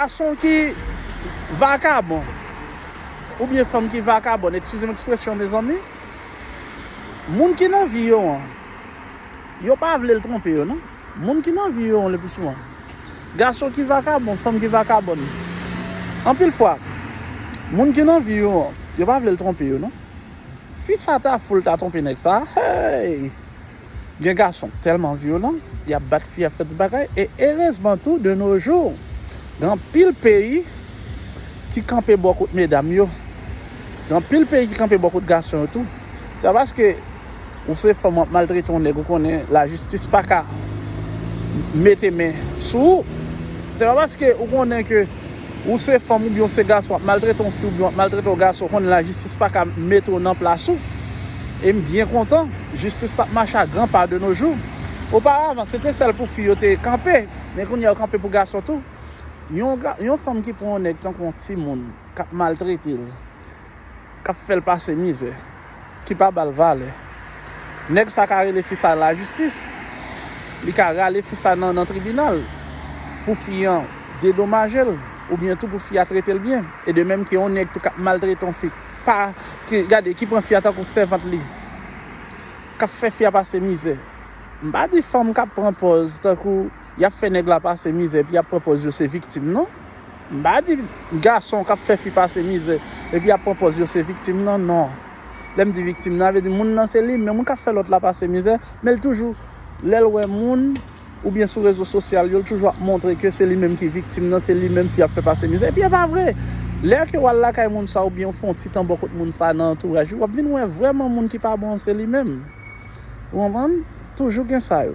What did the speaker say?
Gason ki vakabon oubyen fanm ki vakabòn, ekskize m ekspresyon mezanmi, moun ki nan vi yo an, yo pa vle l twonpe yo non. Moun ki nan vi yo an lepi souvan, gason ki vakabon, fanm ki vakabòn, anpil fwa, moun ki nan vi yo an, yo pa vle l twonpe yo non. Fi sa ta fou l ta twonpe nèg sa a, hey! Gen gason k tèlman vyolan, y ap bat fi, y ap fè tout bagay e erezman tou de no jou gen anpil peyi ki kanpe bò kot medam yo, gen anpil peyi ki kanpe bò kot gason yo tou. Se pa paske ou se fanm w ap maltrete yon nèg ou konnen lajistis pa ka mete men sou ou, se pa paske ou konnen ke. Ou se fanm oubyen ou se gason ap maltrete yon fi oubyen wap maltrete yon gason ou konnen lajistis paka mete w nan plas ou e m byen kontan jistis la ap mache a gran pa de no jou oparavan se te sèl pou fi yo te kanpe men kounye a yo kanpe pou gason tou yon fanm ki pran yon nèg tankou yon timoun kap maltrete l k ap fè l pase mizè, ki pa ba l valè. Nèg sa ka rele fi sa lajistis, li ka rale fi sa nan tribinal pou fi an dedomaje l oubyen tou pou fi a trete l byen. E de menm ke yon nèg tou k ap maltrete yon fi, gade, ki pran fi a tankou sèvant li, k ap fè fi a pase mizè. M pa di fanm k ap pran pòz tankou. yap fè nèg la pase mizè epi yap pran pòz yo se viktim non. M pa di gason kap fè fi pase mizè epi yap pran pòz yo se viktim nan non. Lè m di viktim nan, sa vle di moun nan se li menm wi kap fè lòt la pase mizè, men l toujou lè l wè moun oubyen sou rezo sosyal yo l toujou ap montre ke se li menm ki viktim nan, se li menm fi ap fè pase mizè epi e pa vre. Lè ke w al lakay moun sa oubyen ou fè yon ti tan bò kot moun sa nan antouraj li wap vin wè vrèman moun ki pa bon an se li menm. Ou konprann? Toujou gen sa yo.